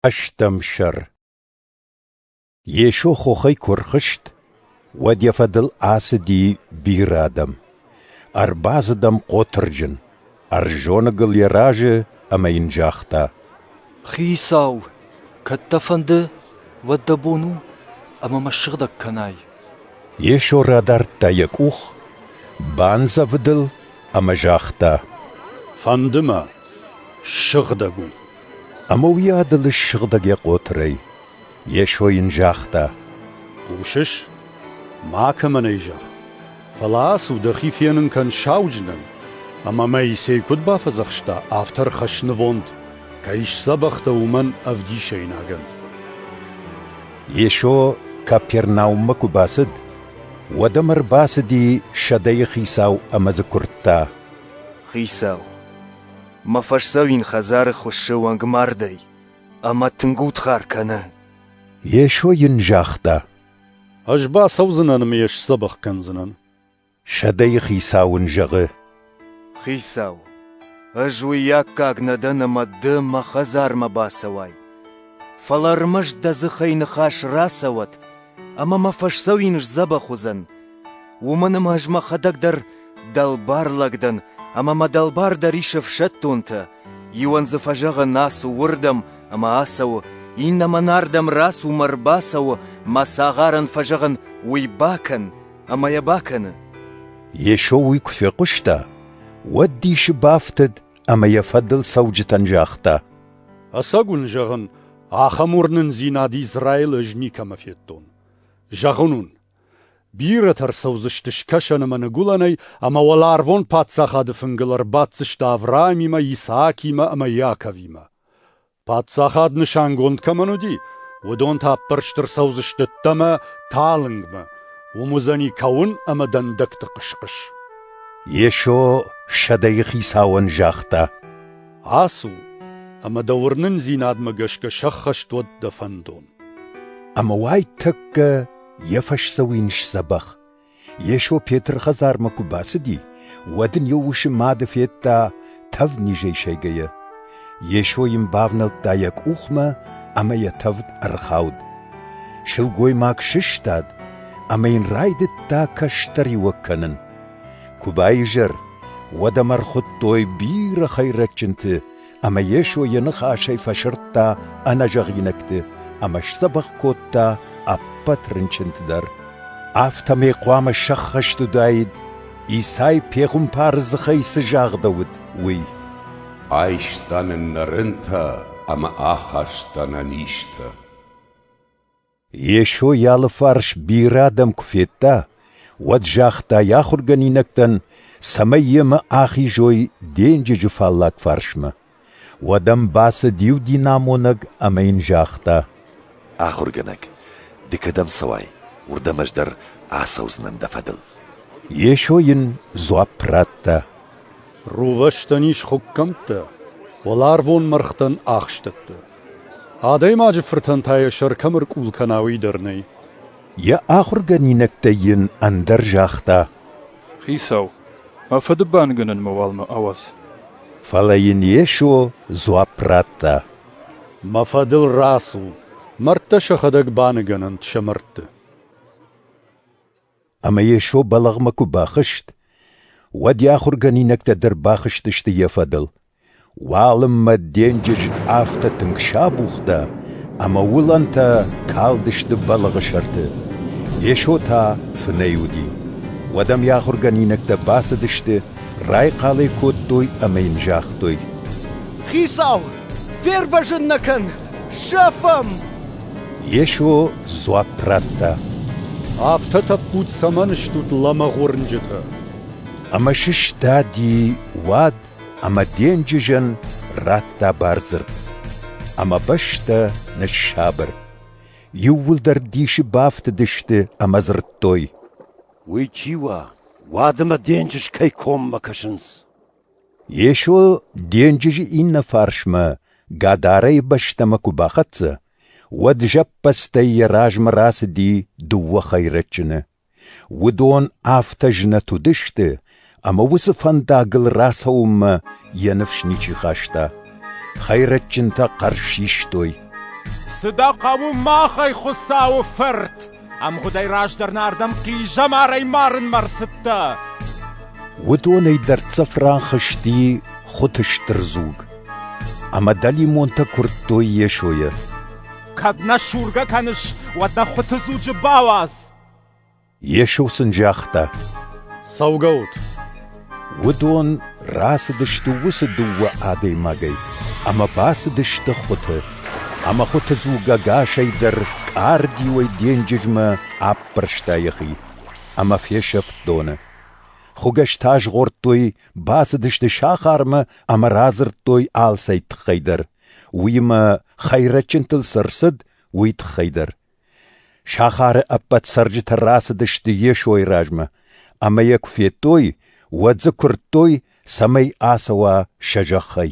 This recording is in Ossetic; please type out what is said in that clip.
Ӕстӕм сӕр Йесо хохӕй куы рхызт, уӕд йӕ фӕдыл ацыди бирӕ адӕм. Ӕрбацыд ӕм хъотырджын, ӕрзоныгыл йӕ разы ӕмӕ йын загъта: «Хицау, кӕд дӕ фӕнды, уӕд дӕ бон у, ӕмӕ мӕ ссыгъдӕг кӕнай». Йесо радардта йӕ къух, бандзӕвыд ыл ӕмӕ загъта: «Фӕнды мӕ, ссыгъдӕг у». Ӕмӕ уый ӕдылы ссыгъдӕг йӕ хъотырӕй. Йесо йын загъта: «Хъусыс? Макӕмӕн ӕй зӕгъ. Фӕлӕ ацу, дӕхи фенын кӕн сауджынӕн, ӕмӕ Моисей куыд бафӕдзӕхста, афтӕ ӕрхӕсс нывонд, кӕй сдзӕбӕх дӕ, уымӕн ӕвдисӕйнагӕн». Йесо Капернауммӕ куы бацыд, уӕд ӕм ӕрбацыди сӕдӕйы хицау ӕмӕ дзы куырдта. «Хицау, Мӕ фӕсдзӕуин хӕдзары хуыссы уӕнгмардӕй ӕмӕ тынг удхар кӕны. Йесо йын загъта. Ӕз бацӕудзынӕн ӕмӕ йӕ сдзӕбӕх кӕндзынӕн. Сӕдӕйы хицау ын зӕгъы. Хицау, ӕз уый аккаг нӕ дӕн ӕмӕ ды мӕ хӕдзармӕ бацӕуай. Фӕлӕ ӕрмӕст дӕ дзыхӕй ныхас рацӕуӕд ӕмӕ мӕ фӕсдзӕуин сдзӕбӕх уыдзӕн. Уымӕн ӕмӕ ӕз мӕхӕдӕг дӕр дӕлбар лӕг дӕн, ӕмӕ мӕ дӕлбар дӕр ис ӕфсӕддонтӕ. Иуӕн дзы фӕзӕгъын, ацу уырдӕм ӕмӕ ацӕуы, иннӕмӕн ардӕм рацу мӕ ӕрбацӕуы, мӕ цагъарӕн фӕзӕгъын, уый бакӕн, ӕмӕ йӕ бакӕны. Йесо уый куы фехъуыста, уӕд дисы бафтыд ӕмӕ йӕ фӕдыл цӕуджытӕн загъта: Ӕцӕг уын зӕгъын, ахӕм уырнындзинад Израилы ӕз никӕмӕ федтон. Зӕгъын уын, бирӕтӕ ӕрцӕудзысты скӕсӕн ӕмӕ ныгуылӕнӕй ӕмӕ уӕларвон паддзахады фынгыл ӕрбаддзысты Авраамимӕ, Исаакимӕ ӕмӕ Иаковимӕ. Паддзахад нысангонд кӕмӕн уыди, уыдон та ӕппӕрст ӕрцӕудзысты дӕмӕ талынгмӕ, уым уыдзӕни кӕуын ӕмӕ дӕндӕгты хъыс-хъыс. Йесо сӕдӕйы хицауӕн загъта: Ацу, ӕмӕ дӕ уырнындзинадмӕ гӕсгӕ сӕххӕст уӕд дӕ фӕндон. Ӕмӕ уайтӕккӕ йӕ фӕсдзӕуин сдзӕбӕх. Йесо Петры хӕдзармӕ куы бацыди, уӕд ын йӕ усы мады федта тӕвднизӕй сайгӕйӕ. Йесо йын бавнӕлдта йӕ къухмӕ ӕмӕ йӕ тӕвд ӕрхауд. Сылгоймаг сыстад ӕмӕ йын райдыдта кӕстӕриуӕг кӕнын. Куы баизӕр, уӕд ӕм ӕрхуыдтой бирӕ хӕйрӕджджынты ӕмӕ Йесо йӕ ныхасӕй фӕсырдта ӕнӕзӕгъинӕгты ӕмӕ сдзӕбӕх кодта ӕппӕт рынчынты дӕр. Афтӕмӕй хъуамӕ сӕххӕст уыдаид, Исай пехуымпары дзыхӕй цы загъдӕуыд, уый. Айста нын нӕ рынтӕ ӕмӕ ахаста нӕ низтӕ. Йесо йӕ алыфарс бирӕ адӕм куы федта, уӕд загъта йӕ ахуыргӕнинӕгтӕн, цӕмӕй йемӕ ахизой денджызы фаллаг фарсмӕ. Уӕд ӕм бацыд иу динамонӕг ӕмӕ йын загъта: «Ахуыргӕнӕг, ды кӕдӕм цӕуай, уырдӕм ӕз дӕр ацӕудзынӕн дӕ фӕдыл». Йесо йын дзуапп радта: «Рувӕстӕн ис хуыккӕмттӕ, уӕларвон мӕргътӕн ахстӕттӕ. Адӕймаджы фыртӕн та йӕ сӕр кӕм ӕркъул кӕна, уый дӕр нӕй. Йӕ ахуыргӕнинӕгтӕй йын ӕндӕр загъта: Хицау, мӕ фыды бангӕнӕнмӕ уалмӕ ауадз. Фӕлӕ йын Йесо дзуапп радта: Мӕ фӕдыл рацу, мӕрдтӕ сӕхӕдӕг баныгӕнӕнт сӕ мӕрдты. Ӕмӕ Йесо бӕлӕгъмӕ куы бахызт, уӕд йӕ ахуыргӕнинӕгтӕ дӕр бахызтысты йӕ фӕдыл. Уалынмӕ денджыз афтӕ тынг сабухта, ӕмӕ уылӕнтӕ калдысты бӕлыгъы сӕрты. Йесо та фынӕй уыди. Уӕд ӕм йӕ ахуыргӕнинӕгтӕ бацыдысты, райхъал ӕй кодтой ӕмӕ йын загътой: «Хицау, фервӕзын нӕ кӕн! Сӕфӕм!» Йесо дзуапп радта: «Афтӕ тӕппуд цӕмӕн стут лӕмӕгъ уырнджытӕ?» Ӕмӕ сыстади уӕд ӕмӕ денджызӕн радта бардзырд. Ӕмӕ бӕстӕ ныссабыр. Иууылдӕр дисы бафтыдысты ӕмӕ дзырдтой. Уый чи уа, уӕд ӕмӕ денджыз кӕй коммӕ кӕсынц? Йесо денджызы иннӕ фарсмӕ Гадарайы бӕстӕмӕ куы бахӕццӕ, уӕд зӕппӕдзтӕй йӕ размӕ рацыди дыууӕ хӕйрӕджыны. Уыдон афтӕ знӕт уыдысты, ӕмӕ уыцы фӕндагыл рацӕуынмӕ йӕ ныфс ничи хаста. Хӕйрӕджджынтӕ хъӕр систой. «Цы дӕ хъӕуы, махӕй Хуыцауы фырт? Ӕмгъуыдӕй раздӕр нардӕм хъизӕмарӕй марынмӕ рцыдтӕ!» Уыдонӕй дӕрддзӕф рахызти хуыты стыр дзуг, ӕмӕ дӕлимонтӕ куырдтой Йесойы. «Кӕд нӕ сургӕ кӕныс, уӕд нӕ хуыты дзуджы бауадз! Йесо сын загъта: «Цӕугӕ ут!» Уыдон рацыдысты уыцы дыууӕ адӕймагӕй ӕмӕ бацыдысты хуыты. Ӕмӕ хуыты дзугагасӕй дӕр къардиуӕй денджызмӕ аппӕрста йӕхи ӕмӕ фесӕфт доны. Хуыгӕстӕ згъордтой, бацыдысты сахармӕ ӕмӕ радзырдтой алцӕй тыххӕй дӕр. Уыимӕ, хӕйрӕджджынтыл цы рцыд, уый тыххӕй дӕр. Сахары ӕппӕт цӕрджытӕ рацыдысты Йесойы размӕ, ӕмӕ йӕ куы федтой, уӕд дзы куырдтой, цӕмӕй ацӕуа сӕ зӕххӕй.